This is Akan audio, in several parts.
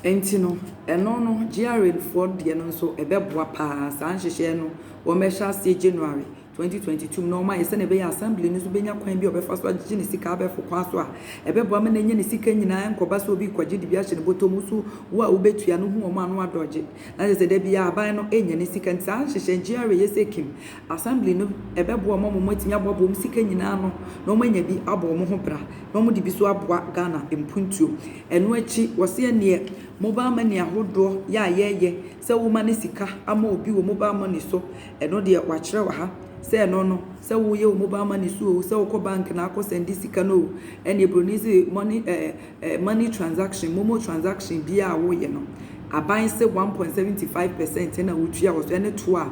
Nti no, ɛno no, GRAfoɔ deɛ no nso ɛbɛboa pa ara. Saa nhyehyɛɛ no, wɔbɛhyɛ aseɛ January 2022 mu na wɔayɛ sɛdeɛ ɛbɛyɛ a Assembly no nso bɛnya kwan bi a ɔbɛfa so agyegye ne sika abɛɛfo kwan so a ɛbɛboa ma no anya ne sika nyinaa nkɔba sɛ obi rekɔgye de bi ahyɛ ne bɔtɔ mu so wo a wobɛtua no hu wɔn a na wɔadɔgye na kyerɛ sɛ da biara aban no nya ne sika nti saa nhyehyɛɛ GRA yɛ sɛ Kim Assembly no bɛboa wɔn ama wɔatumi aboaboa wɔn sika nyinaa ano na wɔanya bi abɔ wɔn ho bra na wɔde bi nso aboa Ghana mpuntuo. Ɛno akyi, wɔse ɛnneɛ mobile money ahodoɔ yɛ a yɛyɛ sɛ woma ne sika ama obi wɔ mobile money so, ɛno deɛ wɔakyerɛ wɔ ha sɛ ɛno no sɛ woyɛ wɔ mobile money so oo, sɛ wokɔ bank na akɔ sɛnde sika no oo, ɛnneɛ buroni se money, eh, eh, money transaction, momo transaction biara a woyɛ no, aban se 1.75 percent na wotua wɔ so, ɛne toɔ a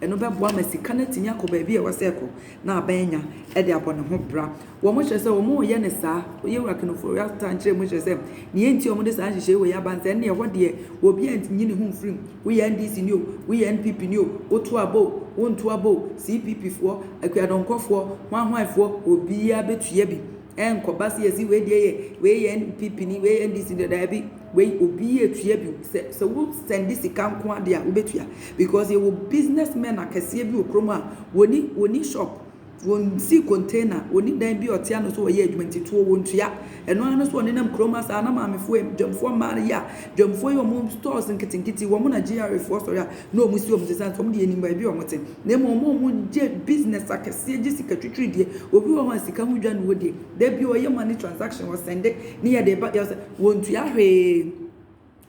Ɛno bɛboa ma sika no atumi akɔ baabi a ɛwɔ sɛ ɛkɔ na aban anya de abɔ ne ho bra. Wɔkyerɛ sɛ wɔyɛ no saa, Yewura Kenoforio Atta nkyerɛmu kyerɛ sɛ nea enti a wɔde saa nhyehyɛe wei aba ne sɛ ɛnde ɛhɔ deɛ obiara nyi ne ho mfiri mu. Woyɛ NDC ni o, woyɛ NPP ni o, woto aba o, wonto aba o, CPP foɔ, Akuadɔnkɔfoɔ, hwanhwanfoɔ, obiara bɛtua bi. Ɛnkɔba sɛ yɛsi wei deɛ yɛ wei yɛ NPP ni wei yɛ NDC ni daabi wei obi yɛ tua bi sɛ sɛ wo sɛnde sika nko adeɛ a wobɛtua because yɛwɔ business men akɛseɛ bi wɔ kurom a wɔni wɔni shop wɔnsi container wɔni dan bi ɔte ano so wɔyɛ adwuma nti toɔ wɔntua ɛno ara no so ɔnenam kurom asaa na maamefoɔ dwamfoɔ mmaa no yɛ a dwamfoɔ yi wɔn stores nketenkete wɔn na GRAfoɔ sɔre a na wɔn si wɔn sesa nso wɔn deɛ anim baabi a wɔn te Na mmom wɔn a wɔyɛ business akɛseɛ gye sika twitwiri deɛ, obi wɔ hɔ a sika ho dwa ne wɔ deɛ, da bi ɔyɛ money transaction, ɔsɛnde ne yɛ de ba, yɛ sɛ wɔntua hwee.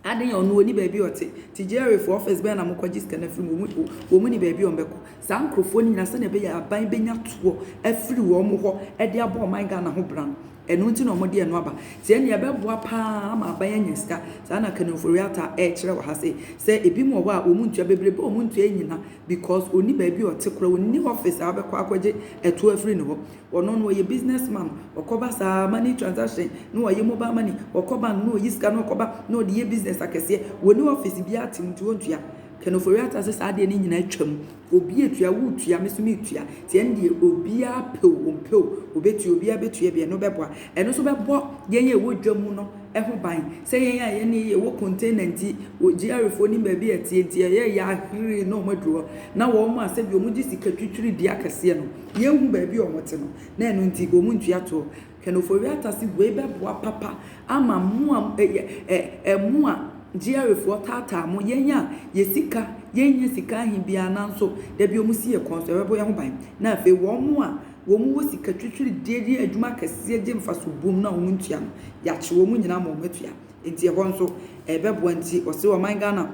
Aden yɛ ɔno ɔni baabi a ɔte, nti GRA foɔ office bɛn na mokɔgye sika no afiri mu, wɔn, wɔn ni baabi a wɔbɛkɔ. Saa nkorɔfoɔ no nyinaa sɛdeɛ ɛbɛyɛ a aban bɛnya toɔ afiri wɔn hɔ de abɔ ɔman Ghana ho bra no, Ɛno nti na wɔde ɛno aba. Sɛ nea ɛbɛboa pa ara ama aban anya sika, saa na Kanu-Ofori-Atta rekyerɛ wɔ ha sei, sɛ ebinom wɔ hɔ a wɔn ntua, bebrebe a wɔn ntua nnyina because ɔnni baabi a ɔte koraa, ɔnni office a wobɛkɔ akɔgye ɛtoɔ afiri ne hɔ. Ɔno no ɔyɛ business man, ɔkɔba saa, money transaction, na wayɛ mobile money, ɔkɔ bank na ɔyi sika na ɔkɔba na ɔde yɛ business akɛseɛ. Ɔnni office biara te mu nti ɔntua. Kanu-Ofori-Atta se saa deɛ no nyinaa atwam. Obi etua, woretua, me so meretua, nti ɛno deɛ obiara pɛ o, ɔmpɛ o, ɔbɛtua, obiara bɛtua bi, ɛno bɛboa. Ɛno nso bɛbɔ yɛn a ɛwɔ dwa mu no ho ban sɛ yɛn a yɛne yɛwɔ container nti, wɔ GRA foɔ nim baabi a ɛteɛ nti, ɛyɛ yɛ ahwere na wɔn aduru hɔ, na wɔn a sɛdeɛ wɔgye sika twitwiri di akɛseɛ no, yɛnhu baabi a wɔte no, na ɛno nti wɔntua toɔ. Kenofowi atase wei bɛboa papa ama mo a ɛyɛ ɛ ɛ mo a GRAfoɔ taataa mo, yɛn a yɛ sika yɛnnya sika ahe biara nanso da bi wɔsi yɛ kɔn so ɛbɛbɔ yɛn ho ban na afei wɔn a wɔn wɔ sika twitwiri deɛ deɛ adwuma akɛseɛ gye mfaso bom no a wɔn ntua no yɛakye wɔn nyinaa ama wɔn atua nti ɛhɔ nso ɛbɛboa nti ɔse ɔman Ghana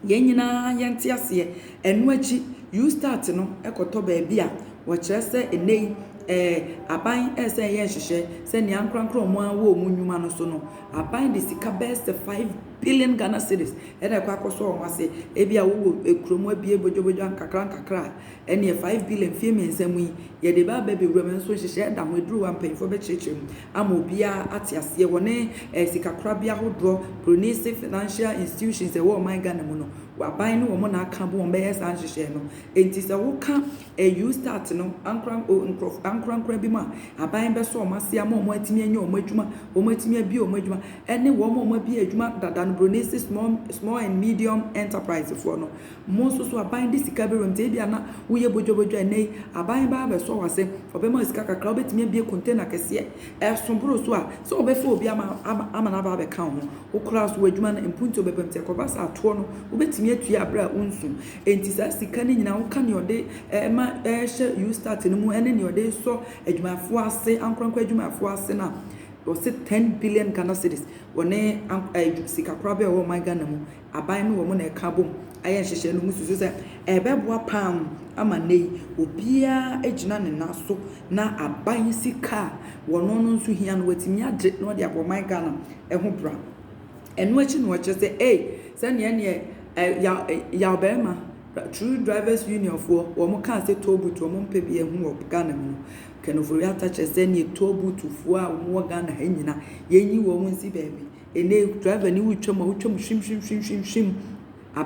Yɛn nyinaa yɛnte aseɛ. Ɛno akyi, Eustat no kɔtɔ baabi a wɔkyerɛ sɛ nnɛ yi eh, aban resa yɛ nhyehyɛɛ sɛ nea ankorankoro a wɔn ara wɔ wɔn nnwuma no so no, aban de sika bɛyɛ sɛ five billion Ghana cedis na ɛkɔ akɔsɔ wɔn ase. Ebia wowɔ eh, kurom abue bodwobodwo ankakrankakra a, ɛneɛ five billion mfeɛ mmiɛnsa mu yi, yɛde bɛaba bɛwura mu, nso nhyehyɛɛ da ho, ɛduru hɔ a mpanyinfoɔ bɛkyerɛkyerɛ mu. ama obiara ate aseɛ wɔ ne eh, sikakorabea hodoɔ, Brunei se financial institutions ɛwɔ ɔman Ghana mu no, aban ne wɔn na aka bɔ wɔn bɛyɛ saa nhyehyɛɛ no. Enti sɛ woka eh, UStart no ankora oh, nkorɔf, ankorankora bi mu a, aban bɛsɔ wɔn ase ama wɔn atumi anya wɔn adwuma, wɔn atumi abie wɔn adwuma, ɛne wɔn a wɔabie adwuma dada no, Brunei se small, small and medium enterprisefoɔ no, Mo nso so aban de sika bi rente, ebia na woyɛ bodwabodwa, ɛnnɛ yi aban bɛba abɛsɔ wo ase, ɔbɛma wo sika kakra, wobɛtumi abue container kɛseɛ, ɛso boro so a, sɛ wɔbɛfa obi ama ama no aba abɛka wo ho, wo koraa so w'adwuma no mpuntuo bɛba mu, nti ɛkɔba saa toɔ no wobɛtumi atua aberɛ a wonsu, ɛnti saa sika no nyinaa woka nea ɔde ɛma ɛhyɛ USTAT no mu ɛne nea ɔde sɔ adwumayɛfoɔ ase, ankorankora adwumayɛfoɔ ase no a, wɔse ten billion Ghana cedis, wɔne sikakorabea a ɛwɔ ɔman Ghana mu aban ne wɔn na ɛka abom ayɛ nhyehyɛe no mususu sɛ ɛbɛboa paa ama nnɛyi obiara agyina ne nan so na aban sika a wɔn no nso hia no watumi agye na ɔde abɔ ɔman Ghana ho bra. Ɛno akyi na wɔkyerɛ sɛ ei sɛnea ɛneɛ yaw yaw bɛrima True Drivers Union foɔ wɔn kaa sɛ toll booth wɔn mpɛ bi ɛho wɔ Ghana mu no. Ken Ofori-Atta kyerɛ sɛ ɛneɛ toll booth foɔ a wɔn wɔ Ghana ha nyina yɛnyi wɔn nsi baabi. Ɛnnɛ yi driver no retwam a, wotwam hwimhwimhwimhwim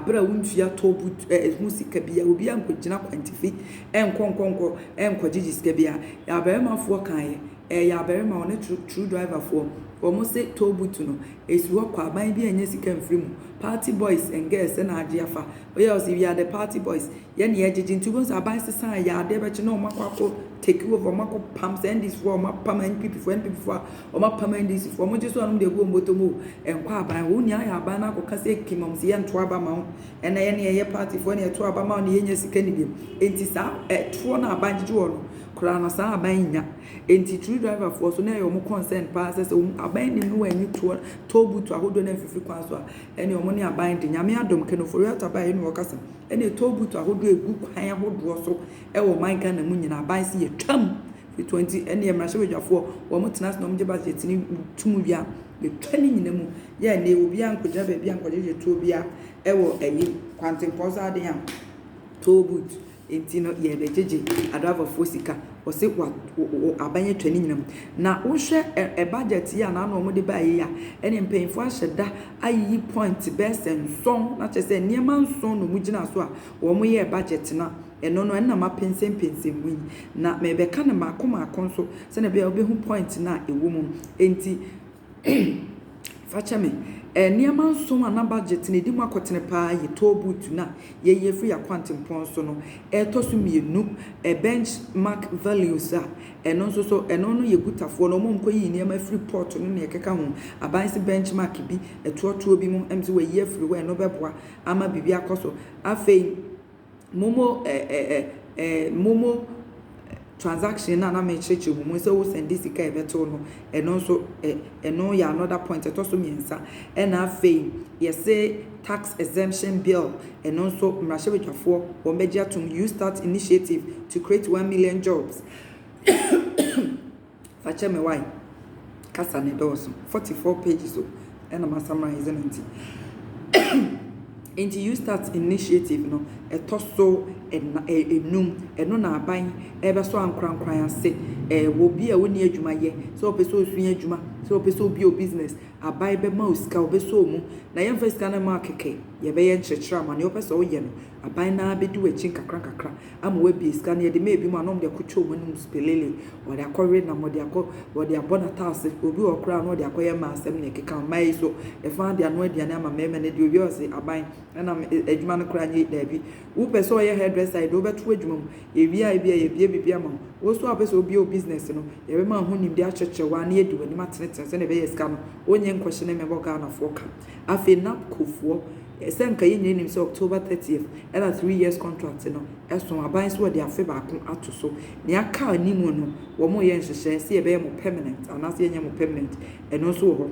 bere a womfii atɔ but ɛ ɛ ho sika biara. Obiara nkɔgyina kwantifi nkɔ nkɔ nkɔ nkɔgyegye sika biara. Yɛn abarimafoɔ kaeɛ, ɛyɛ abarima ɔne tru true driverfoɔ. Wɔn se toll booth no, ɛsi hɔ kwa, aban biara nnya sika mfiri mu. Party boys and girls na agye afa. Woyɛ a, wɔse we are the party boys. Yɛn na yɛgyegye nti wobɛhu sɛ aban sesa a, ɛyɛ adeɛ bɛkye na wɔakɔ akɔ take over, wɔakɔ pam sɛ NDCfoɔ a wɔapam NPPfoɔ, NPPfoɔ a Wɔn apam NDC foɔ, wɔn gye so a wɔn de agu wɔn bɔtɔ mu o, ɛnkɔ aban, wɔn nyaa yɛ aban no akɔ ka sɛ kim wɔn se yɛ nto aba ma wo, ɛna yɛ ne yɛ yɛ party foɔ na yɛ to aba ma wo na yɛ nya sika ni biom, enti saa ɛtoɔ no a aban gyegye wɔn no koraa no saa aban nnya, enti true driver foɔ so na ɛyɛ wɔn concern paa sɛ sɛ wɔn aban nim no wɔn nyi toɔ toll booth ahodoɔ no amfifiri kwan so a ɛne wɔn ne aban de, Nyame adom Ken Ofori Atta ba a yɛ ne wɔ kasa ɛne toll booth ahodoɔ egu kwan ahodoɔ so ɛwɔ ɔman Ghana mu nyinaa aban se yɛ twa mu. Ketewa nti, ɛnneɛ mmarahyɛbadwafoɔ, wɔn tena ase na wɔn gye budget no tom wie a, yɛtwa ne nyina mu. Yɛ a nnɛ obiara nkɔgyina baabi a nkɔgyegye toɔ biara ɛwɔ ayi kwantempɔn saa adeɛ a, toll booth, nti no yɛrebɛgyegye adriverfoɔ sika. Wɔse wa, wo, wo, aban atwa ne nyina mu. Na wohwɛ ɛ, ɛ budget yi a na ano wɔde baeɛ yi a, ɛnneɛ mpanyinfoɔ ahyɛ da ayiyi point bɛyɛ sɛ nson, na kyerɛ sɛ nneɛma nson na wɔgyinaa so a wɔyɛɛ budget no a. Ɛno no, ɛno na mapɛnsɛmpɛnsɛm mu yi, na merebɛka no mmaako mmaako nso sɛnea ɛbɛyɛ a wobɛhu point no a ɛwɔ mu no. Enti, fa kyɛ me, eh, nneɛma nson a na budget no ɛdi mu akɔtene paa yɛ toll booth no a yɛyi afiri yɛn akwantempɔn so no, ɛtɔ so mmienu, eh, benchmark values a ɛno nso so, ɛno no yɛ Gutafoɔ no, wɔn a wɔkɔyiyi nneɛma afiri port no ne ɛkeka ho, aban se benchmark bi, ɛtoɔtoɔ bi mu, ɛm sɛ wɔayi afiri hɔ a ɛno bɛboa ama biribi akɔ so. Afei, momo ɛ ɛ ɛ ɛ momo transaction no a na mekyerɛkyerɛ mu mu sɛ wo sɛnde sika a ɛbɛto no ɛno nso ɛ ɛno yɛ another point ɛtɔ so mmiɛnsa ɛna afei yɛse tax exemption bill ɛno nso mmarahyɛbadwafoɔ wɔn bɛgye atom you start initiative to create one million jobs Fa kyɛ me wai kasa ne dɔɔso forty four pages o ɛna ma samarais no nti nti you start initiative no ɛtɔ so ɛna ɛ enum ɛno na aban ɛbɛsɔ ankorankora ase ɛɛ wɔ bi a wonni adwuma yɛ sɛ ɔpɛ sɛ osua adwuma sɛ ɔpɛ sɛ obi o business aban bɛma o sika ɔbɛsɔ ɔmu na yɛmfa sika no mma kɛkɛ yɛbɛyɛ nkyerɛkyerɛ ama nea ɔpɛ sɛ ɔyɛ no Aban no ara bɛdi w'akyi nkakrankakra ama woabie sika no. Yɛde maa ebinom a na wɔde akɔtwa wɔn anom spelele, wɔde akɔwe nam, wɔde akɔ, wɔde abɔ n'ataase. Obi wɔ hɔ koraa a na ɔde akɔyɛ mmaa asɛm na ɛkeka. Mmaa yi nso, ɛfã ara de anoa aduane ama mmarima na ɛde owia ɔse, Aban, ɛna adwuma no koraa nyɛ daabi. Wopɛ sɛ ɔyɛ hairdresser a, yɛde wo bɛto adwuma mu. Yɛwie a, ebia yɛabue biribi ama wo. Wo nso a wopɛ sɛ wobue wo business no, yɛbɛma wo ho nimdeɛ akyerɛkyerɛ wo ara na yɛadi w'anim atenetene sɛnea ɛbɛyɛ a sika no, wonnye nkɔhyɛ na ɛmmɛbɔ Ghanafoɔ ka. Afei NABCOfoɔ. Sɛ anka yɛn nyinaa nim sɛ October thirtieth na three years contract no so, aban so wɔde afe baako ato so. Nea aka anim no, wɔreyɛ nhyehyɛe sɛ yɛbɛyɛ mo permanent anaasɛ yɛnyɛ mo permanent, ɛno nso wɔ hɔ.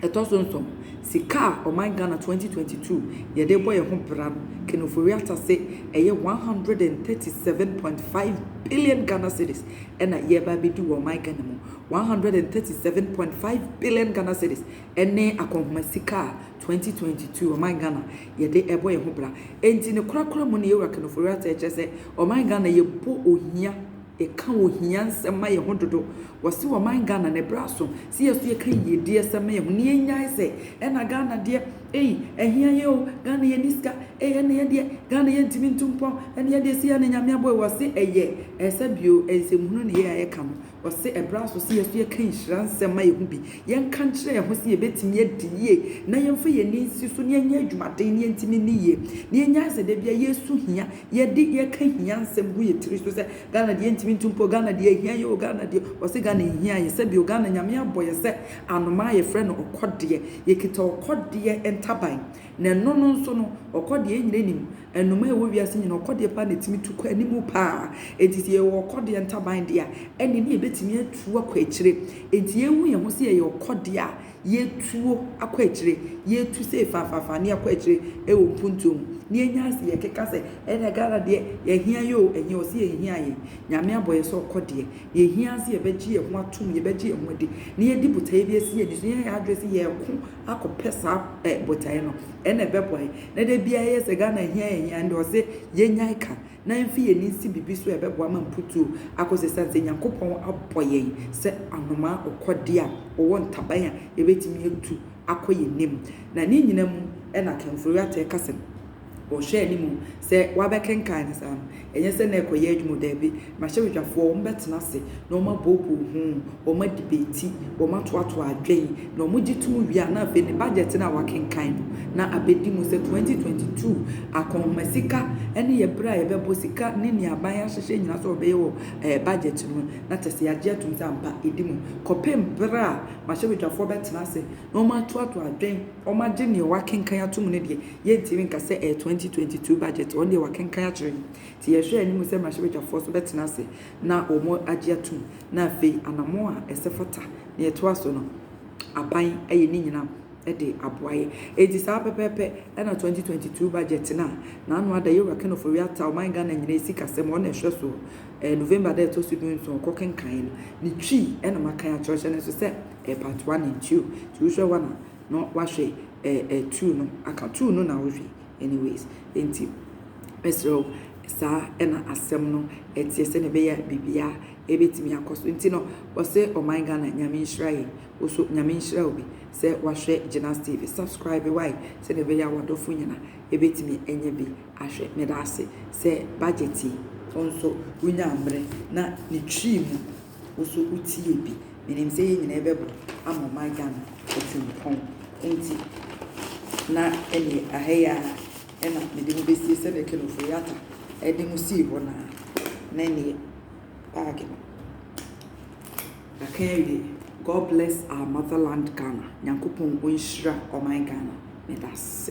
Ɛtɔ so nson, sika a ɔman Ghana twenty twenty two yɛde rebɔ yɛn ho bra no, Ken Ofori-Atta se ɛyɛ one hundred and thirty seven point five billion Ghana cedis na yɛreba abedi wɔ ɔman Ghana mu. One hundred and thirty seven point five billion Ghana cedis Ɛne akɔnhoma sika a 2022 ɔman Ghana yɛde ɛbɔ yɛn ho bra. Ɛnti ne korakora mu ne Yɛwura Kanofo Ratha ɛkyerɛ sɛ ɔman Ghana yɛbɔ ohia, yɛka ohia nsɛm ma yɛn ho dodo. Wɔse ɔman Ghana ne bra so se yɛ so yɛka yiedie asɛm ma yɛn ho ne yɛn nyae sɛ ɛna Ghana deɛ ei ahia yɛn o, Ghana yɛnni sika ei ɛne yɛn deɛ Ghana yɛntimi ntu mpɔn ɛne yɛn deɛ se yɛne Nyame abɔ ei wɔse ɛyɛ ɛsɛ bio ɛnsɛmhunu ne yɛn a yɛka no Ɔse ɛberɛ aso sɛ yɛso yɛka nhyira nsɛm ma yɛho bi, yɛnka nkyerɛ yɛho sɛ yɛbɛtumi adi yie na yɛmfa yɛn ani nsi so na yɛnyɛ adwumaden na yɛntumi nni yie. Na yɛnyae sɛ da biara yɛresu hia, yɛde yɛka hia nsɛm gu yɛn tiri so sɛ Ghana deɛ yɛntumi ntu mpo, Ghana deɛ ɛhia yɛ o, Ghana deɛ, ɔse Ghana nhia yɛ, sɛbio Ghana Nyame abɔ yɛ sɛ anomaa a yɛfrɛ no ɔkɔdeɛ, yɛkita ɔkɔdeɛ ntaban na ɛno no nso no ɔkɔdeɛ yɛn nyinaa nim Nnomaa a ɛwɔ wiase nyinaa, ɔkɔdeɛ paa na ɛtumi tu kɔ anim paa. Enti sɛ yɛwɔ ɔkɔdeɛ ntaban deɛ a, ɛnne ne yɛbɛtumi atu akɔ akyire. Enti yɛhu yɛn ho sɛ yɛyɛ ɔkɔdeɛ a, yɛtuo akɔ akyire. Yɛtu sei fafafaa ne yɛakɔ akyire wɔ mpuntuo mu. Ne yɛnya ase yɛkeka sɛ, ɛnna Ghana deɛ, yɛhia yɛ o, ɛnyɛ ɔse yɛnhia yɛn. Nyame abɔ yɛn sɛ ɔkɔdeɛ. Deɛ ɛhia ara ne sɛ yɛbɛgye yɛn ho atom, yɛbɛgye yɛn ho adi, na yɛde botaeɛ bi asi yɛn ani so, na yɛayɛ yɛn adwene sɛ yɛreko akɔpɛ saa eh, botaeɛ no, ɛna ɛbɛboa yɛ. Na da biara yɛyɛ sɛ Ghana ahia ahia, ɛnde ɔse yɛnyae ka, na ɛmfi yɛn ani nsi biribi so a ɛbɛboa ma mputuo akɔ so ɛsiane sɛ Nyankopɔn abɔ yɛn sɛ anomaa ɔkɔdeɛ a ɔwɔ ntaban a yɛbɛtumi atu akɔ yɛn anim. Na ne nyina mu na Kemfori Atta ɛka sɛ, Wɔhwɛ anim sɛ wɔabɛkenkan no saa no, ɛnyɛ sɛ na ɛrekɔyɛ adwuma o, dabi, mmarahyɛbadwafoɔ wɔbɛtena ase na wɔabooboo ho, wɔadibeti, wɔatoatoa adwene, na wɔgye tom wie a, na afei ne budget no a wɔakenkan no, na abɛdi mu sɛ 2022 akɔnhoma sika ne yɛ berɛ a yɛbɛbɔ sika ne nea aban ahyehyɛ nyinaa sɛ wɔbɛyɛ wɔ eh, budget no na kyɛ sɛ yɛagye atom sɛ ampa ɛdi mu kɔpem berɛ a mmarahyɛbadwafoɔ bɛtena ase na wɔatoatoa adwene Wɔagye nea wɔakenkan atom no deɛ, yɛntumi nka sɛ ɛyɛ 2022 budget. Wɔn deɛ wɔakenkan akyerɛ yɛn. Nti yɛhwɛ anim sɛ mmarahyɛbadwafoɔ nso bɛtena ase na wɔagye atom na afei anammɔn a ɛsɛ fata na ɛtoa so no, aban ayɛ ne nyinaa de aboa yɛn. Enti saa pɛpɛɛpɛ na 2022 budget no a n'ano ada Yewura Ken Ofori-Atta, ɔman Ghana nyinaa sikasɛm, ɔno na ɛhwɛ soɔ, November da a ɛtɔ so du nson ɔkɔkenkaeɛ no, ne twi na makan akyerɛkyerɛ no nso sɛ, Eh part one and two nti wohwɛ one a na wahwɛ eh eh two no aka two no na wohwɛ anyways nti mesrɛ wo saa ɛna asɛm no ɛteɛ sɛ na ɛbɛyɛ biribiara ɛbɛtumi akɔ so nti no wɔsɛ ɔman Ghana nyame nhyira yɛn wo so nyame nhyira wo bi sɛ wahwɛ Gynas TV subscribe why sɛ na ɛbɛyɛ awadɔfo nyina ɛbɛtumi ɛnyɛ bi ahwɛ meda ase sɛ budget yi wo nso wonya mmerɛ na ne twi mu Wo so wo tie bi. Menim sɛ yɛn nyinaa yɛbɛbɔ ama ɔman Ghana atirimpɔn nti na ɛneɛ aha yi ara ɛna mede mo bɛsie sɛdeɛ Kenofo Yatta ɛde mo sii hɔ no ara na ɛneɛ baage no yɛaka awie God bless our motherland Ghana Nyankopɔn ɔnhyira ɔman Ghana meda ase.